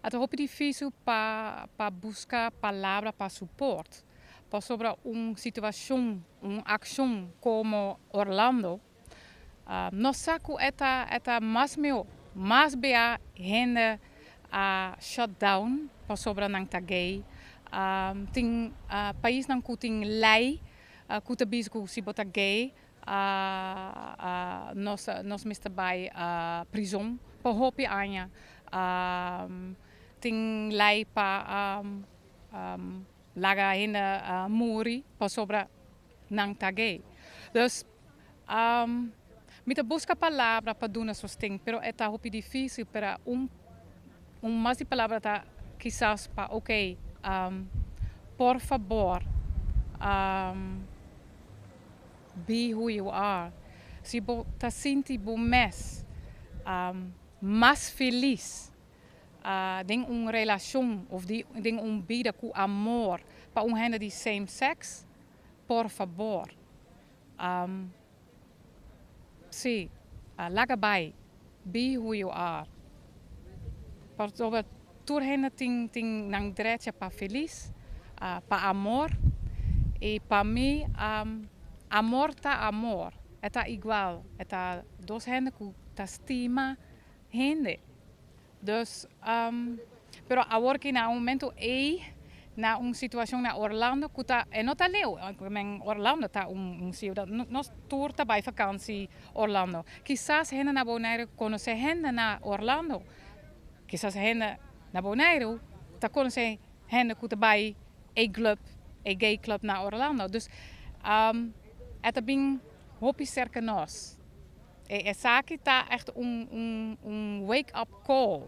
A ta hopi difisil pa pa buska palabra pa suport, pasobra un situacion, un accion como Orlando no sa cu e ta e ta mas mihor. Mas bia hende a shut down pasobra nan ta gay. Tin paisnan cu tin ley cu ta bisa cu si bo ta gay nos mester bai prizon pa hopi aña. Tin lei pa laga hende muri pasobra nan ta gay. Dus, mi ta buska palabra pa duna sosten, pero e ta hopi dificil. Pero un mas di palabra ta kisas pa oke, por fabor. Be who you are. Si bo ta sinti bo mes mas felis den un relashon of den un bida ku amor pa un hende di same sex, por fabor si laga bai. Bi hu yu ar. Pasobra tur hende tin tin nan drecha pa felis, pa amor, i pa mi amor ta amor, e ta igual, e ta dos hende ku ta stima hende. Dus. Pero awor ki na un momentu ei na un situashon na Orlando ku ta e no ta leu. Men Orlando ta un un siudat nos tur ta bai fakansi Orlando. Kisas hende na Bonaire konosé hende na Orlando. Kisas hende na Bonaire ta konosé hende ku ta bai ei glùp ei gay club na Orlando. Dus e ta bin hopi serka nos. E esaki ta ègt un un un wake up call.